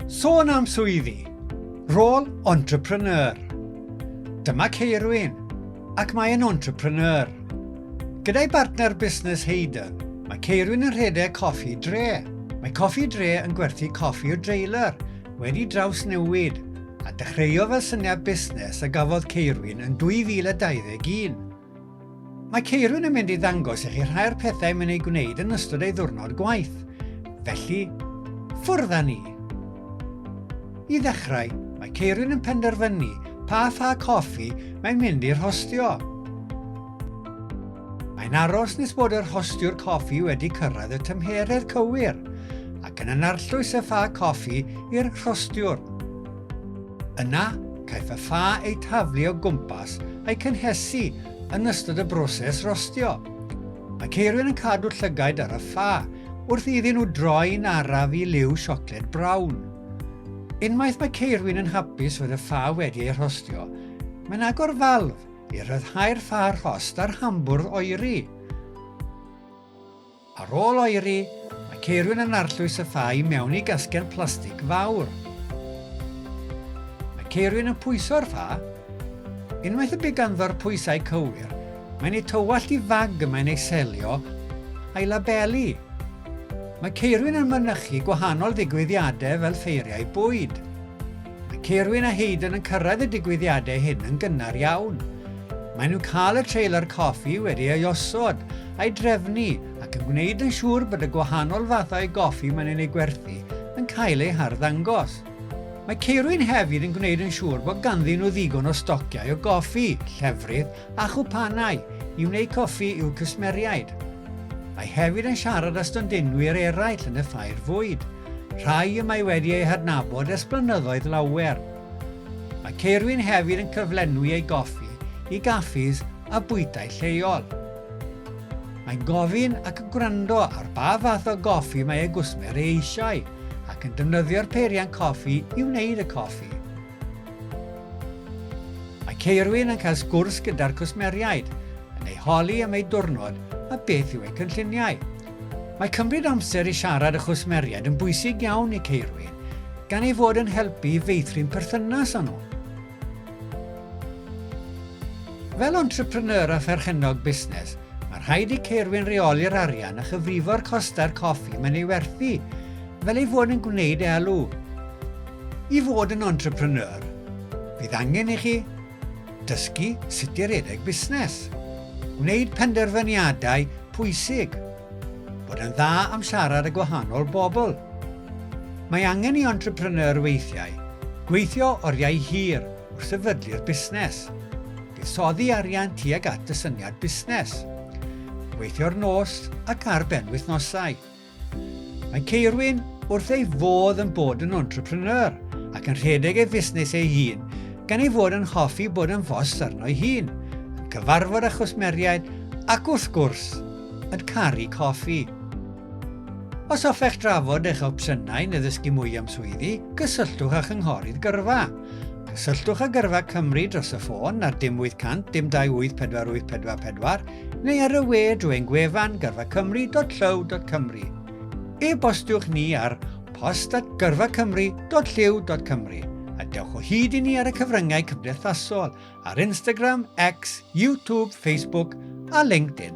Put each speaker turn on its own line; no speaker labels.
Sôn am swyddi, rôl entrepreneur. Dyma Ceirwyn, ac mae'n entrepreneur. Gyda'i bartner busnes Hayden, mae Ceirwyn yn rhedeg Coffi Dre. Mae Coffi Dre yn gwerthu coffi o dreiler, wedi drawsnewid, a dechreuo fel syniad busnes a gafodd Ceirwyn yn 2021. Mae Ceirwyn yn mynd i ddangos i chi rhai o'r pethau mae'n ei gwneud yn ystod ei ddwrnod gwaith. Felly, ffwrdd â ni! I ddechrau, mae Ceirwyn yn penderfynu pa ffa coffi mae'n mynd i rhostio. Mae'n aros nes bod yr hostiwr coffi wedi cyrraedd y tymheredd cywir ac yn anarllwys y ffa coffi i'r rhostiwr. Yna, caiff y ffa ei taflu o gwmpas a'i cynhesu yn ystod y broses rostio. Mae Ceirwyn yn cadw llygaid ar y ffa wrth iddyn nhw droi'n araf i liw siocled brown. Unwaith mae Ceirwyn yn hapus fod y ffa wedi ei rhostio, mae'n agor falf i ryddhau'r ffa rhost a'r hambwrdd oeri. Ar ôl oeri, mae ceirwyn yn arllwys y ffa i mewn i gasgen plastig fawr. Mae ceirwyn yn pwyso'r ffa. Unwaith y bu ganddo'r pwysau cywir, mae'n ei tywallt i fag y mae'n ei selio a'i labelu. Mae ceirwyn yn mynychu gwahanol ddigwyddiadau fel ffeiriau bwyd. Mae Caerwyn a Hayden yn cyrraedd y digwyddiadau hyn yn gynnar iawn. Maen nhw'n cael y trailer coffi wedi ei osod, a'i drefnu ac yn gwneud yn siŵr bod y gwahanol fathau goffi maen nhw'n eu gwerthu yn cael eu harddangos. Mae Caerwyn hefyd yn gwneud yn siŵr bod ganddyn nhw ddigon o stociau o goffi, llefrith a chwpanau i wneud coffi i'w cwsmeriaid. Mae hefyd yn siarad â stondinwyr eraill yn y ffair fwyd. rhai y mae wedi eu hadnabod ers blynyddoedd lawer. Mae Ceirwyn hefyd yn cyflenwi ei goffi i gaffis a bwytai lleol. Mae'n gofyn ac yn gwrando ar ba fath o goffi mae ei gwsmer ei eisiau ac yn defnyddio'r peiriant coffi i wneud y coffi. Mae Ceirwyn yn cael sgwrs gyda'r cwsmeriaid, yn ei holi am ei diwrnod a beth yw ei cynlluniau. Mae cymryd amser i siarad â chwsmeriaid yn bwysig iawn i ceirwyr, gan ei fod yn helpu i feithrin perthynas â nhw. Fel entrepreneur a pherchennog busnes, mae rhaid i ceirwyn reoli'r arian a chyfrifo'r costau'r coffi mae'n ei werthu, fel ei fod yn gwneud elw. I fod yn entrepreneur, bydd angen i chi Dysgu sut i redeg busnes. Gwneud penderfyniadau pwysig. Bod yn dda am siarad â gwahanol bobl. Mae angen i entrepreneur weithiau gweithio oriau hir wrth sefydlu'r busnes. Buddsoddi arian tuag at y syniad busnes. Gweithio'r nos ac ar benwythnosau. Mae Ceirwyn wrth ei fodd yn bod yn entrepreneur ac yn rhedeg ei fusnes ei hun, gan ei fod yn hoffi bod yn fos arno'i hun, yn cyfarfod â chwsmeriaid ac wrth gwrs, yn caru coffi. Os hoffech drafod eich opsiynau neu ddysgu mwy am swyddi, cysylltwch â Chynghorydd Gyrfa. Cysylltwch â Gyrfa Cymru dros y ffôn ar dim 800 dim 28 484 neu ar y we drwy ein gwefan gyrfacymru.llyw.cymru. E-bostiwch ni ar post at gyrfacymru.llyw.cymru a dewch o hyd i ni ar y cyfryngau cymdeithasol ar Instagram, X, YouTube, Facebook a LinkedIn.